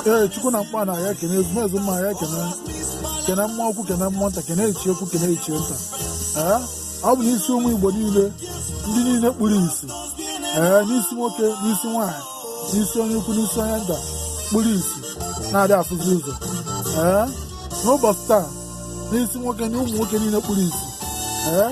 ee chukwu na mkpa na ya ekene ezumezu mmụọ ya ekene kene mmụọ ukwu kene mmụọ nta kene ichie ukwu kene ichie nta ee ọ bụ n'isi ụmụ igbo niile ndị niile kpuru isi ee n'isi nwoke n'isi nwaanyị n'isi onye ukwu n'isi onye nta kpuru isi na-adị afụzi ụzọ ee n'ụbọchị taa n'isi nwoke na ụmụ nwoke niile kpuru isi ee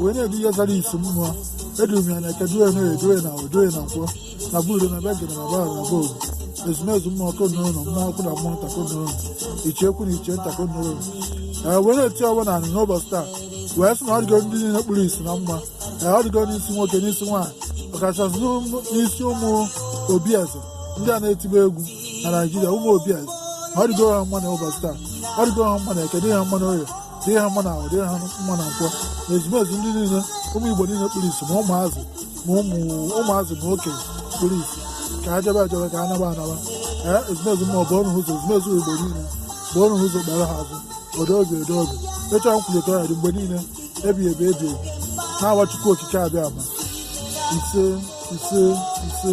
wee na-edu ihe zara isi mmụọ eduru m ya na eke duo ya na oye duo ya na afọ duo ya na nkwọ na budo na be gịnị na bara na be obi ezumezu mmụọ konụrụ na mmụọ ukwu na mmụọ nta konụrụ ichie ukwu na ichie nta konụrụ ee wee na-eti ọfọ na anị n'ụbọchị taa wee sị na ọ dịgo ndị niile kpuru isi na mma ee ọ dịgo n'isi nwoke n'isi nwaanyị ọkachasị n'ụmụ- n'isi ụmụ obi eze ndị a na-etibe egwu na naijiria ụmụ obi eze ọ dịgo ha mma na ụbọchị taa ọ dịgo ha mma na eke dị ha mma na oye dị ha mma na afọ dị ha mma na nkwọ na ezumezu ndị niile ụmụ igbo niile kpuru isi ma ụmụazị ma ụmụ ụmụazị ma okenye kpuru isi ka ha jebe ejebe ka ha naba anaba ee ezumezu mmụọ bụ ọnụ ụzọ ezumezu igbo niile bụ ọnụ ụzọ kpere ha azụ udo obi udo obi ọcha nkwulite ọya dị mgbe niile ebi ebi ebi ebi n'aha chukwu okike abịama ise ise ise